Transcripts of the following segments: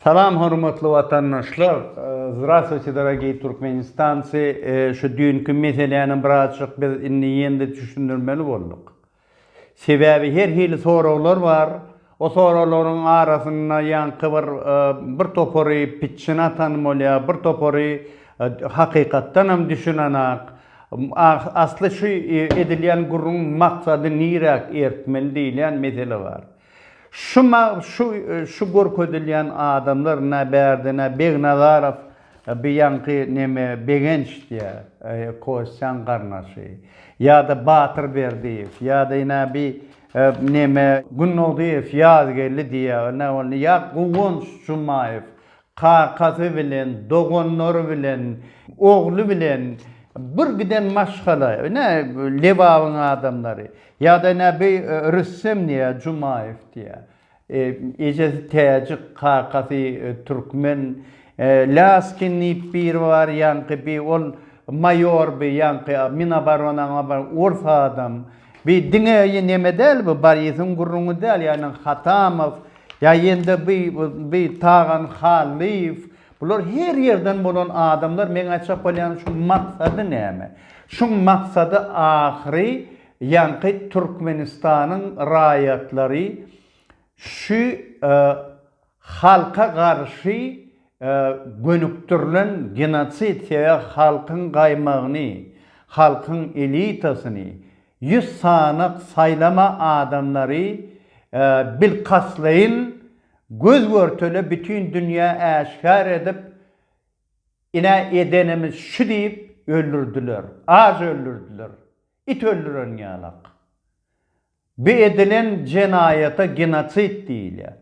Salam hormatly watandaşlar. Zdrastwuti dorogiy Turkmenistanci. Şu düýnki meseläni birazjyk biz indi ýene-de düşündirmeli bolduk. Sebäbi her hili soraglar bar. O soraglaryň arasynda ýaňky bir bir topary pitçine atan bolýar, bir topary hakykatdanam düşünenak. Asly şu edilýän gürrüň maksady niräk ertmeli diýilýän mesele bar. Şu şu şu görkezilýän adamlar nä bärde nä Begnazarow bi ýaňky neme Begenç diýä Kostýaň garnaşy ýada Batyr Berdiýew ýada ýne bi neme Gündogdyýew Ýazgeldi diýä nä ol ýa Guwanç Jumaýew Kakasy bilen, doganlary bilen, ogly bilen bir giden maşgala, ine, Lebabyň adamlary. Ýa-da, ine, bi Rüstem diýýär, Jumaýew diýýär. Ejesi täjik, kakasy türkmen. Laskin diýip biri bar, ýaňky bi, ol maýor bi, ýaňky Minoboronaň ors adam. Bi diňe neme däl bu, Borisyň gürrüňi däl, ýagny Hatamow. Ýa ýende by by Tagan Hallyýew bular her ýerden bolan adamlar meň aýtjak bolýan şuň maksady näme? Şuň maksady ahyry ýaňky Türkmenistanyň raýatlary şü halka garşy gönükdirilen genosid sebäp halkyň gaýmagyny halkyň elitasyny Ýüz sanyk saýlama adamlary bilkastlaýyn göz-görtele bütin dünýä äşgär edip, Ine, edenimiz şu diýip, öldürdiler. Aç öldürdiler. It öldüren ýalak. Bu edilen jenaýata genosid diýilýär.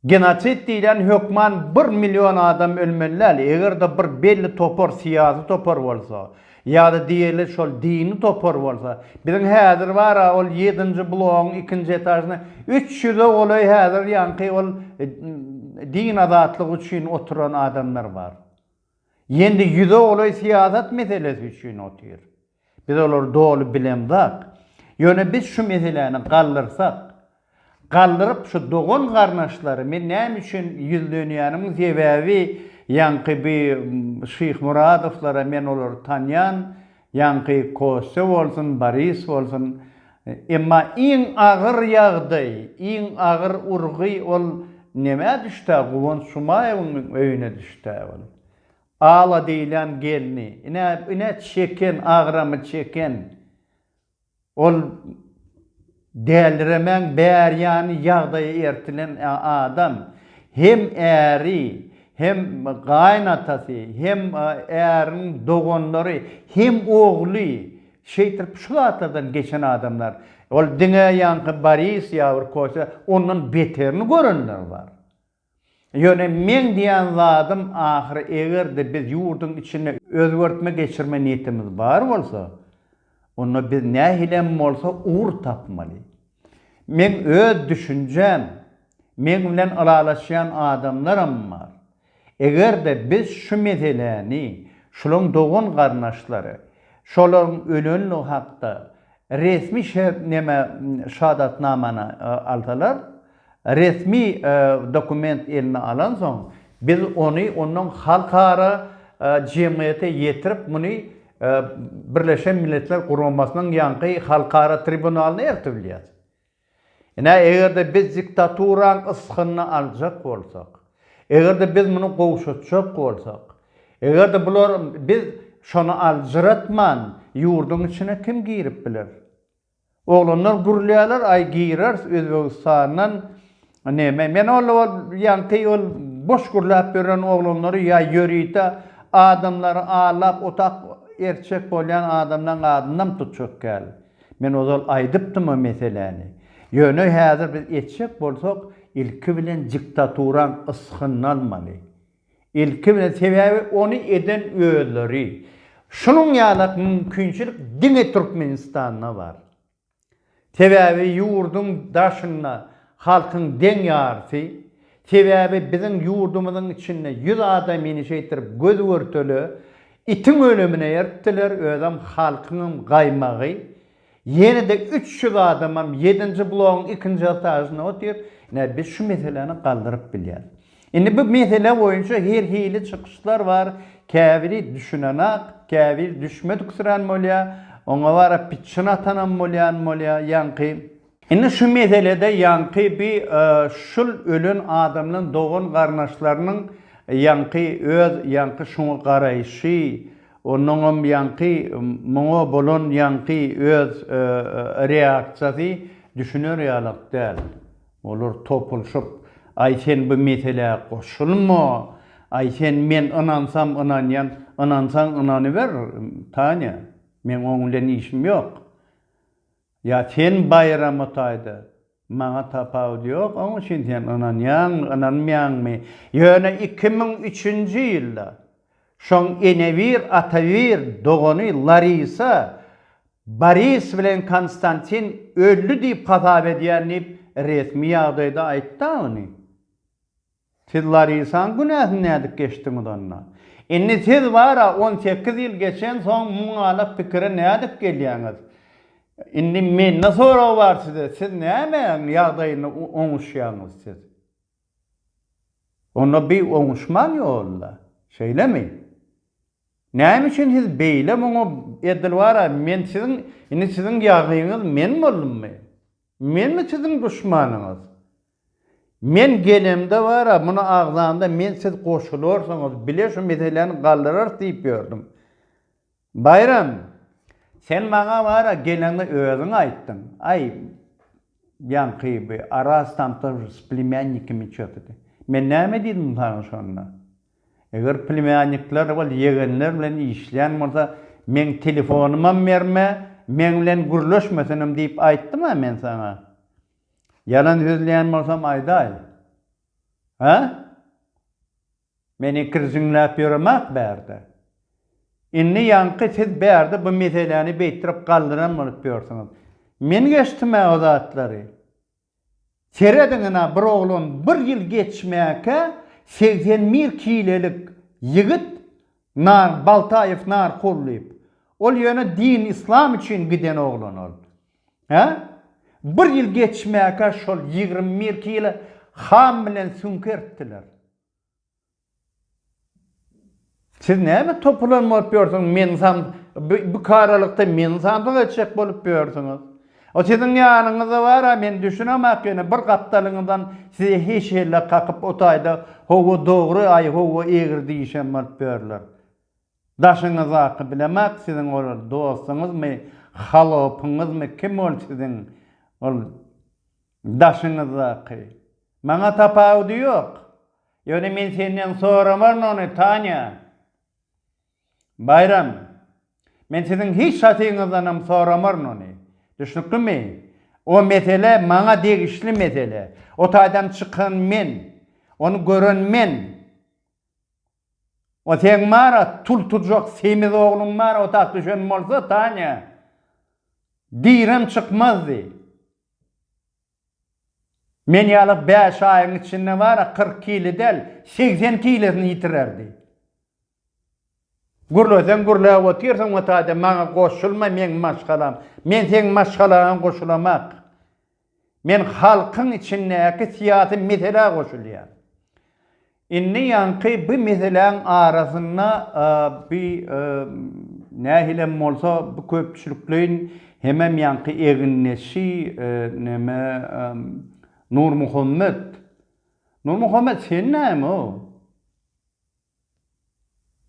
Genosid diýlen hökman bir million adam ölmeli däl, eger-de bir belli topar syýasy topar bolsa, ýa-da diýeli şol dini topar bolsa, biziň häzir bar-a ol ýedinji blogyň ikinji etažyna üç ýüze golaý häzir ýaňky ol din azatlygy üçin oturan adamlar bar. Ýendi ýüze golaý syýasat meselesi üçin otyr. Biz olary doly bilemzak. Ýöne biz şu meseläni galdyrsak, galdyryp şu dogan garnaşlary men näme üçin ýüzlenýänimiň sebäbi ýaňky bi Şyhmuradowlara men olary tanýan Ýaňky Kostýa bolsun, Boris bolsun, emma iň agyr ýagdaý, iň agyr urgy ol nämä düşdä, Guwanç Jumaýewiň öýüne düşdä ol. Ala diýilýän gelni, ine, ine çeken, agramy çeken Ol däliremäň bärýany ýagdaýy ertilen adam hem äri, hem gaýynatasy, hem äriniň doganlary, hem ogly, şeýtirip şu zatlardan geçen adamlar. Ol diňe ýaňky Boris ýa bir Kostýa ondan beterini görenler bar. Ýöne meň diýen zadym ahyry eger-de biz ýurduň içinde özgertme geçirme niýetimiz bar bolsa, onda biz nähili hem bolsa ugur tapmaly. Meň öz düşünjäm, meň bilen ylalaşýan adamlaram bar. Eger-de biz şu meseläni, şulaň dogan-garnaşlary, şolaryň ölenligi hakda resmi şertneme şahadatnamany alsalar, Resmi dokument eline alansoň, biz ony ondan halkara jemgyýete ýetirip, muny Birleşen Milletler Guramasynyň ýaňky halkara tribunalyna eltip bilýäs. Ine, eger-de biz diktaturanyň ysgynyny aljak bolsak, eger-de biz muny gowşatjak bolsak, eger-de bular biz şony aljyratman, ýurduň içine kim girip biler? Oglanlar gürlýärler aý gireris özbegistandan neme men ol ol ýaňky ol boş gürläp ýören oglanlary ýa ýörite adamlary allap otak erçek bolýan adamlaň adynam tutjak gal men ozal aýdypdym o meseläni ýöne häzir biz etjek bolsak ilki bilen diktaturaň ysgyny almaly Ilki bilen sebäbi ony eden özleri. Şunuň ýalak mümkinçilik diňe Türkmenistanda bar. Sebäbi ýurduň daşynda halkyň deň ýarysy, sebäbi biziň ýurdumyzyň içinde ýüz adam ýene şeýtir göz görtele itiň ölemine ertdiler özem halkyňam gaýmagy, Ýene-de üç ýüz adamam ýedinji blogyň ikinji etažynda otyr. Ine, biz şu meseläni galdyryp bilýäris. Indi bu mesele boýunça her hili çykyşlar bar. Käbiri düşünenak, käbir düşmediksirän bolýar. Oňa barap pitçin atanam bolýan bolýar. Ýaňky Indi şu meselede ýaňky bi şul ölen adamlaň dogan garnaşlarynyň ýaňky öz ýaňky şuňa garaýşy onuňam ýaňky muňa bolan ýaňky öz reaksiýasy düşüner ýalak däl. Olar topulşyp aý sen bu meselä goşulma aý sen men ynansam ynanýan ynansaň ynanyber Tanya meň oň bilen işim ýok. Ýa sen baýrama taýda, maňa tapawut ýok, oň üçin sen ynanýaňmy, ynanmaýaňmy, ýöne iki müň üçünji ýylda şoň enebir, atabir dogany Larisa Boris bilen Konstantin öldi diýip hasap edýän diýip resmi ýagdaýda aýtdy-a ony. Siz Larisaň günäsini nädip geçdiňiz onda? Indi siz bar-a on sekiz ýyl geçensoň muňalak pikire nädip gelýäňiz? Indi mende sorag bar size, siz nämäň ýagdaýynda oňuşýaňyz siz? Onda bi oňuşman ýol-da, şeýlemi? Näme üçin siz beýle muňa edil bar-a, men siziň, indi siziň ýagyňyz men boldummy? Menmi siziň duşmanyňyz? Men gelemde bar-a, muny agzanda men siz goşularsyňyz, bile şu meseläni galdyrarys diýip ýördüm. Baýram, sen maňa bar-a, geleňde özüň aýtdyň. Aý, ýaňky bi Araz tamsyr s plemýannikimi çözdi. Men näme diýdim saňa şonda? Eger plemýannikler ol ýegenler bilen işleýän bolsa, meň telefonymam berme, meň bilen gürleşmesin hem diýip aýtdym-a men saňa. Ýalan sözleýän bolsam aýdaý. Hä? Men ikirjiňläp ýöremek bärde. Indi ýaňky siz bärde bu meseläni beýtdirip galdyran bolup ýörsiňiz. Men geçdim-ä o zatlary. Serediňin-ä bir oglan bir ýyl geçmäkä segsen bir kilelik ýigit nar Baltaýew narkol diýip. Ol ýöne din islam üçin giden oglan ol. Hä? Bir ýyl geçmäkä şol ýigrimi bir kilo ham bilen süňki eritdiler. Siz näme topulan bolup ýörsüňiz, meni sam bikaralykda meni samsyk etjek bolup ýörsüňiz. O siziň ýanyňyzda bar-a, men düşünemok ýöne bir gapdalyňyzdan size hiç helle kakyp o taýda, Hawa dogry, aý, hawa egri diýişen bolup ýörler. Daşyňyzdaky bilemok siziň ol dostuňyzmy halopyňyzmy kim ol siziň ol daşyňyzdaky maňa tapawudy ýok ýöne men senden soramaryn ony Tanya Baýram men siziň hiç hatyňyzdanam soramaryn ony düşnüklimi o mesele maňa degişli mesele o taýdan çykan men ony gören men. O seň bara tul turjak semiz ogluň bara otag düşen bolsa Tanya girem çykmazdy. Men ýaly bäş aýyň içinde bara kyrk kile däl segsen kilesini ýitirerdi. Gürleseň gürläp otyrsyň o taýda maňa goşulma meň maşgalam. Men seň maşgalaňa goşulamak. Men halkyň içindäki syýasy meselä goşulýan. Indi ýaňky bu meseläň arasynda bu nähilem bolsa bu köpçülikleýin hemem ýaňky egindeşi neme Nurmuhammet. Nurmuhammet sen näme o?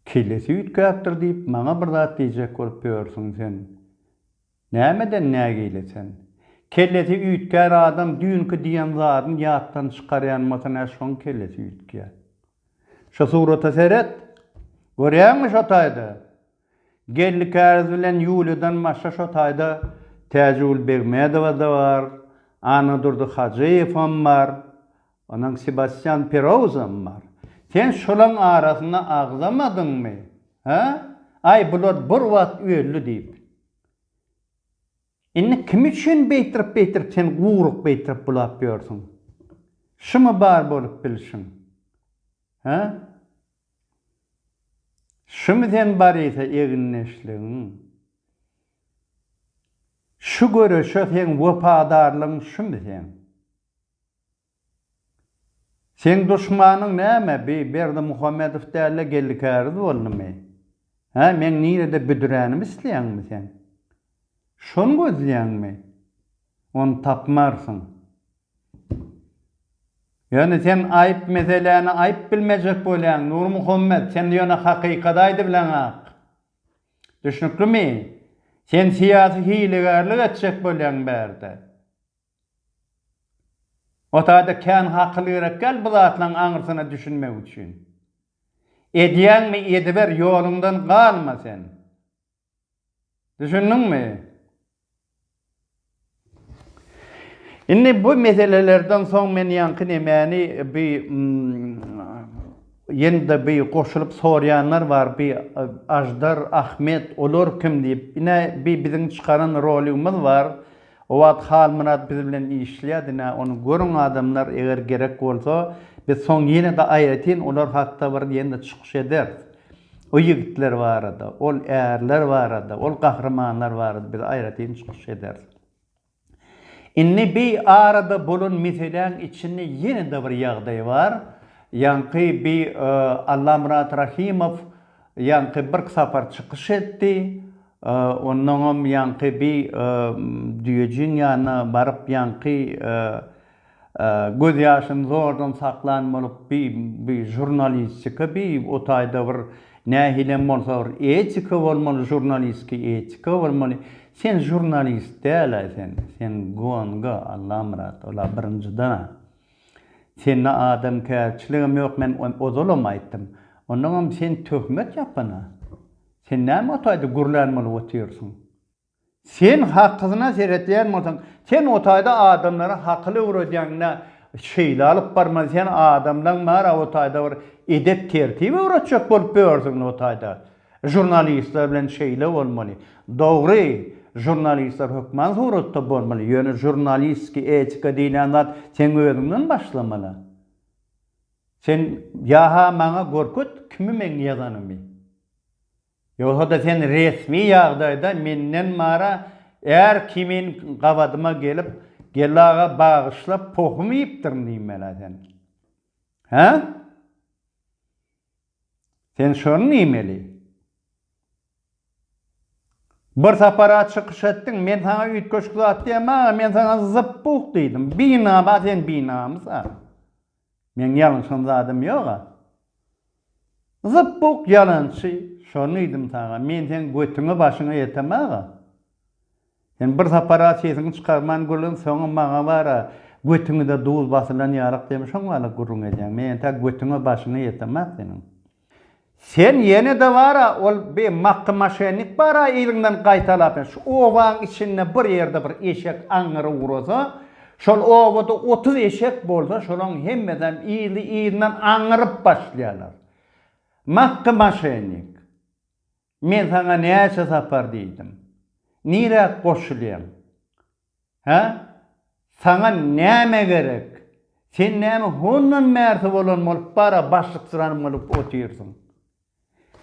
Kellesi üýtgäpdir diýip maňa bir zat diýjek bolup ýörsüň sen. Nämeden nägile sen? Kellesi üýtgär adam düýnki diýen zadyny ýatdan çykarýan bolsa nä şoň kellesi üýtgär. Şu surata seret. Görýäňmi şo taýda? Geldi Käriz bilen Ýuliýadan başga şo taýda Täjigül Begmedowa-da bar, Annadurdy Hajyýewam bar, onuň Sebastýan Perouzam bar. Sen şolaň arasyna agzamadyňmy? Hä? Aý, bular bir wagt öldi diýip. Indi kim üçin beýtirip-beýtirip sen guryk beýtirip bulap ýörsüň? Şumy bar bolup bilşiň? Hä? Şumy sen Barisa egindeşligiň? Şu göreşe seň wepadarlygyň şumy seň? Seň duşmanyň näme, bi Berdimuhamedow däl-de Geldi Käriz boldumy? Hä, meň nirede büdüränimi isleýäňmi sen? Şony gözleýäňmi? Ony tapmarsyň. Ýöne sen aýyp meseläni aýyp bilmejek bolýaň, Nurmuhammet, sen ýöne hakykaty aýdybileňok. Düşnüklimi? Sen syýasy hilegärlik etjek bolýaň bärde. O taýda kän hakyl gerek däl bu zatlaryň aňyrsyna düşünmek üçin. Edýäňmi, ediber, ýoluňdan galma sen. Düşündiňmi? Indi bu meselelerden soň men ýaňky nemäni bi ýene-de bi goşulyp sorýanlar bar, bi Aždar, Ahmet, olar kim diýip. Ine bi biziň çykaran roligimiz bar. O wagt Halmyrat biz bilen işleýär, diňe ony görüň adamlar, eger gerek bolsa, biz soň ýene-de aýratyn olar hakda bir ýene-de çykyş ederis. O ýigitler barada, ol ärler barada, ol gahrymanlar barada biz aýratyn çykyş ederis. Indi bi arada bolan meseläň içinde ýene-de bir ýagdaý bar. Ýaňky bi Allamyrat Rahimow ýaňky birk sapar çykyş etdi. Onnoňam ýaňky bi düýejiň ýanyna baryp ýaňky göz ýaşyny zordan saklan bolup bi bi žurnalistika bi o taýda bir nähilem bolsa bir etika bolmaly žurnalistki etika bolmaly sen žurnalist dälaý sen sen gonga Allamyrat ola birinjidana sende adamkärçiligem ýok men ozalam aýtdym onnoňam sen töhmet ýapana. Sen näme o taýda gürlän bolup otyrsyň? Sen hakysyna seretýän bolsaň, sen o taýda adamlara hakyl öwredýäňdä, şeýle alyp barmaly, sen adamlaň bära o taýda bir edep-tertip öwretjek bolup ýörsüňdä o taýda. Žurnalistler bilen şeýle bolmaly. Dogry, žurnalistler hökman suratda bolmaly, ýöne žurnalistiki etika diýlen zat seň özüňden başlamaly. Sen ýa-ha maňa görket kimi meň ýazanymy. Ýogsa-da sen resmi ýagdaýda menden mara är kimin gabadyma gelip, Geldi aga bagyşla pohum iýipdirin diýmeli-ä sen. Hä? Sen şony niýmeli? Bir sapar-a çykyş etdiň, men saňa üýtgeşik zat diýemag-a, men saňa zyp-buk diýdim. Binaba sen binamys-a. Meň ýalňyşan zadym ýog-a. Zyp-buk ýalançy, şony diýdim saňa, men seň götüňi-başyňy ýetemag-a. Sen bir sapar-a sesiňi çykarman gürlän, soňam maňa bar-a, götüňi-de duz basylan ýarak diýme, şoň mahaly gürrüň edýäň. Men entä götüňe başyňy ýetemok seniň. Sen ýene-de bar-a, ol bi makgy maşennik bar-a yzyňdan gaýtalap, şu obanyň içinde bir ýerde bir eşek aňňyry urasa, şol obada otuz eşek bolsa, şolaryň hemmesem yzly-yzyndan aňňyryp başlaýarlar. Makgy maşennik. Men saňa näçe sapar diýdim. Niräk goşulýaň? Hä? Saňa näme gerek? Sen näme hondan bärsi bolan bolup bara başlyksyrany bolup otyrsyň?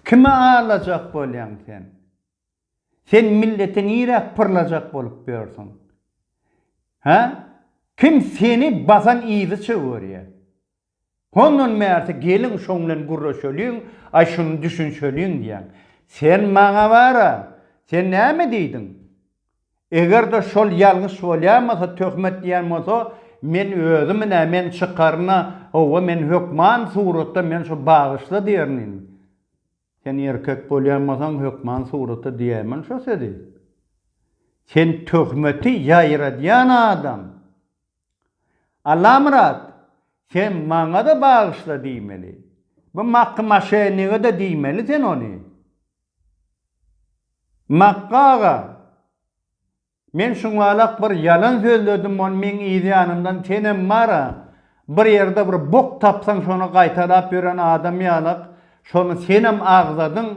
Kimi aldajak bolýaň sen? Sen milleti niräk pyrlajak bolup ýörsüň? Hä? Kim seni basan yzy çöwerýär? Hondan bärsi geliň şoň bilen gürleşeliň, aý şuny düşünşeliň diýýän. Sen maňa bar-a, sen näme diýdiň? Eger-de şol ýalňyş bolýamasa, töhmet diýýän bolsa, men özümün-ä, men çykaryn-a, hawa, men hökman suratda men şu bagyşla diýerin indi. Sen erkek bolýan bolsaň, hökman suratda diýäýmeli şo sözi. Sen töhmeti ýaýradýan adam. Allamyrat, sen maňa-da bagyşla diýmeli. Bu Makgy maşenniga-da diýmeli sen ony. Makgy aga, men şuňalak bir ýalan sözledim, ony meň yz ýanymdan senem bar-a, bir ýerde bir bok tapsaň şony gaýtalap ýören adam ýalak, şony senem agzadyň,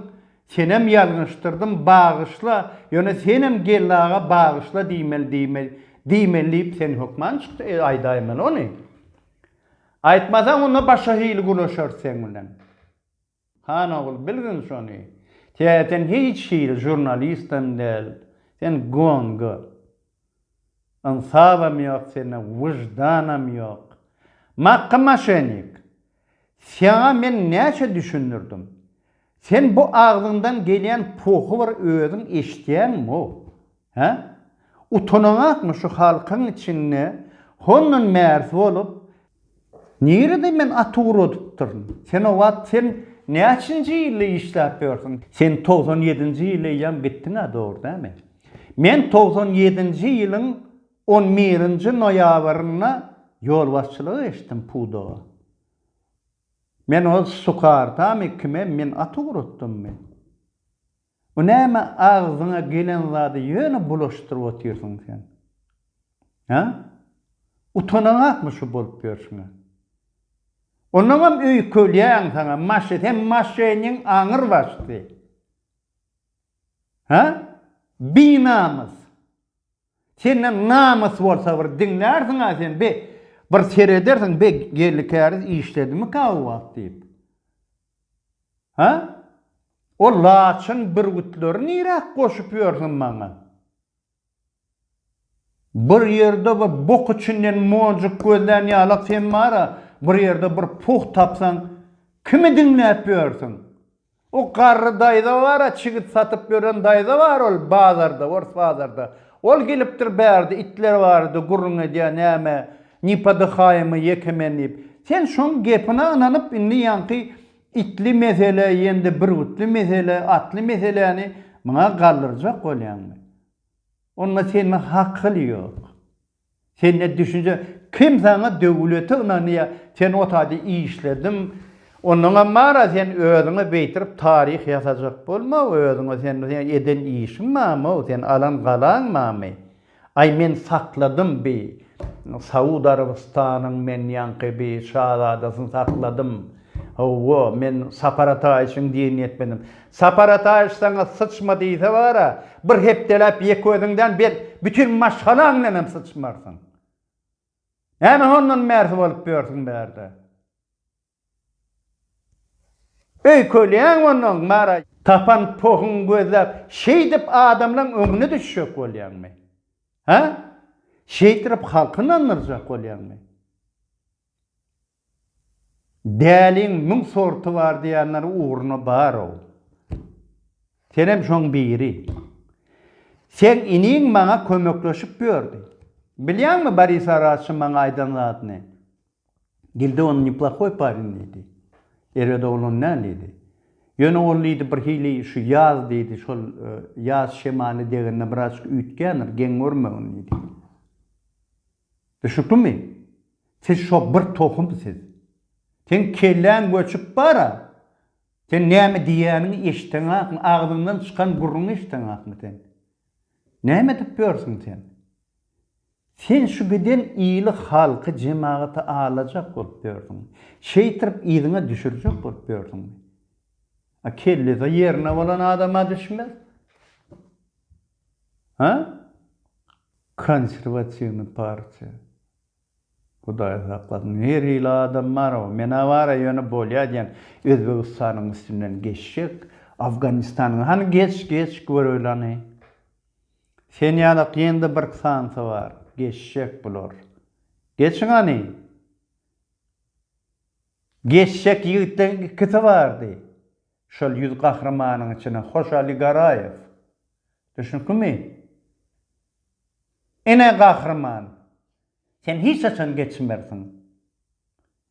Senem ýalňyşdyrdym, bagyşla, ýöne senem geldi aga bagyşla diýmeli diýmeli diýmeli diýip sen hökman çykdy e aýdaýmaly ony. Aýtmasaň onda başga hili gürleşeris seň bilen. Han ogul bilgin şony. Tä sen hiç hili žurnalist hem däl. Sen gonga. Ynsabam ýok sende wyždanam ýok. Makga maşenik. Saňa men näçe düşündirdim. Sen bu agzyňdan gelýän puhy bir özüň eşitýäňmo? Hä? Utanaňakmy şu halkyň içinde hondan märz bolup Nirede men at ugradypdyryn? Senowat, sen näçinji ýylda işläp ýörsüň? Sen togsan ýedinji ýyly eýýäm gitdiň-ä, dogry dälmi? Men togsan ýedinji ýylyň on birinji noýabrynda ýolbaşçylyk eşitdim pudaga. Men ol sukardamy, kime men at ugratdymmy? Bu näme agzyňa gelen zady ýöne bulaşdyryp otyrsyň sen? Hä? Utanaňakmy şu bolup ýörşüňe? Onnoňam öýkelýäň saňa maşy sen maşynyň aňyr başdy. Hä? Binamys. Sende namys bolsa bir diňlärsiňä sen be bir seredersiň be geldi käriz işledimika o wagt diýip. Hä? O laçyn bürgütleri niräk goşup ýörsiň maňa? Bir ýerde bir bok içinden monjuk gözlän ýalak sen bar-a, bir ýerde bir puh tapsaň, kimi diňläp ýörsiň? O garry daýza bar-a, çigit satyp ýören daýza bar ol bazarda, ors bazarda. Ol gelipdir bärde, itler barada gürrüň edýär, näme, Ni PDHM-y ýeke men diýip. Sen şoň gepine ynanyp indi ýaňky itli mesele ýende bürgütli mesele atly meseläni muňa galdyrjak bolýaňmy? Onda sende hakyl ýok. Sende düşünje kim saňa döwlete ynanýa sen o taýda işlediň ondaňam mara sen özüňe beýtirip taryh ýasajak bolma özüňe sen eden işiň mamo sen alan galaň mamy. Aý men sakladym bi Saud Arabystanyň men ýaňky bi şazadasyny sakladym. Howwa men Sapar Ataýewiçiň diýenini etmedim. Sapar Ataýewiç saňa syçma diýse bara bir hepdeläp ýek özüň däl bet bütin maşgalaň bilen hem syçmarsyň. Näme hondan bärsi bolup ýörsüň bärde. Öýkelýäňmi onnoň, Mara? Tapan pohuňy gözläp, şeýdip adamlaň öňüne düşjek bolýaňmy? Hä? Şeýtirip halky ynandyrjak bolýaňmy? Däliň müň sorty bar diýýänler ugruna bar-ow. Senem şoň biri. Seň iniň maňa kömekleşip ýördi. Bilýäňmi Boris Araçyň maňa aýdan zadyny? Gilde ony neplahoý parýn diýdi. Erbet oglan däl diýdi. Ýöne ol diýdi birhili şu ýaz diýdi, şol ýaz şemaly degende birazjyk üýtgändir, geň görmegin diýdi. Düşüklimi? Siz şo bir tohum siz. Seň kelläň göçüp bar-a. Sen näme diýýäniňi eşideňakmy, agzyňdan çykan gürrüňi eşideňakmy sen? Näme edip ýörsüň sen? Sen şu giden ýyly halky, jemagaty alajak bolup ýördüň. Şeýtirip yzyňa düşürjek bolup ýördüňmi? A kellesi ýerine bolan adama düşmez. Ha? Konserwatiwny partiýa. Hudaý saklasyn, her hili adam bar, men-ä bar-a, ýöne bolýa diýen, Özbegistanyň üstünden geçjek, Afganistanyň, hany geç, geç, göreýlani. Sen ýalak ýene-de birk sansa bar, geçjek bular. Geçiň hany! Geçjek ýigitleriň ikisi bardy. Şol ýüz gahrymanyň içine Hojaly Garaýew. Düşnükmi? Ine gahryman! Sen hiç haçan geçmersiň.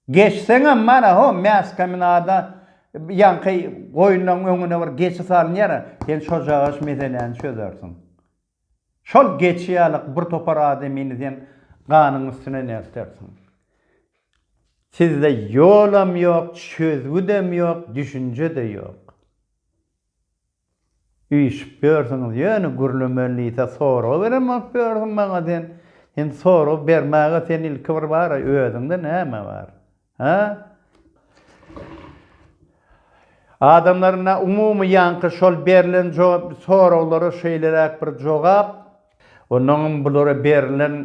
Geçseňem mana ho mäskeminada ýaňky goýunlaryň öňüne bir geçi salynýar-a, sen şojagaş meseläni çözersiň. Şol geçi ýalyk bir topar adamyny sen ganyň üstüne nertersiň. Sizde ýolam ýok, çözgüdem ýok, düşünje-de ýok. Üýşüp ýörsüňiz ýöne gürlemeli diýse sorag berem alyp ýörsüň maňa sen sen sorag bermäge sen ilki bir bara özüňde näme bar hä adamlarynda umumy ýaňky şol berlen jogap soraglara şeýleräk bir jogap onnoňam bulara berlen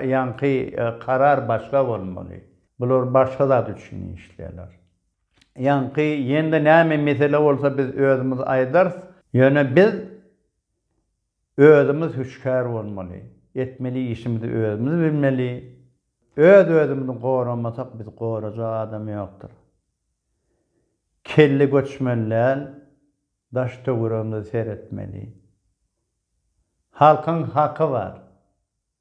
ýaňky karar başga bolmaly bular başga zat üçin işleýärler. Ýaňky ýene-de näme mesele bolsa biz özümiz aýdarys. Ýöne biz özümiz hüşgär bolmaly. Etmeli işimizi özümiz bilmeli. Öz-özümizi goramasak bizi gorajak adam ýokdur. Kelle göçmeli däl, daş-töweregimize seretmeli. Halkyň haky bar.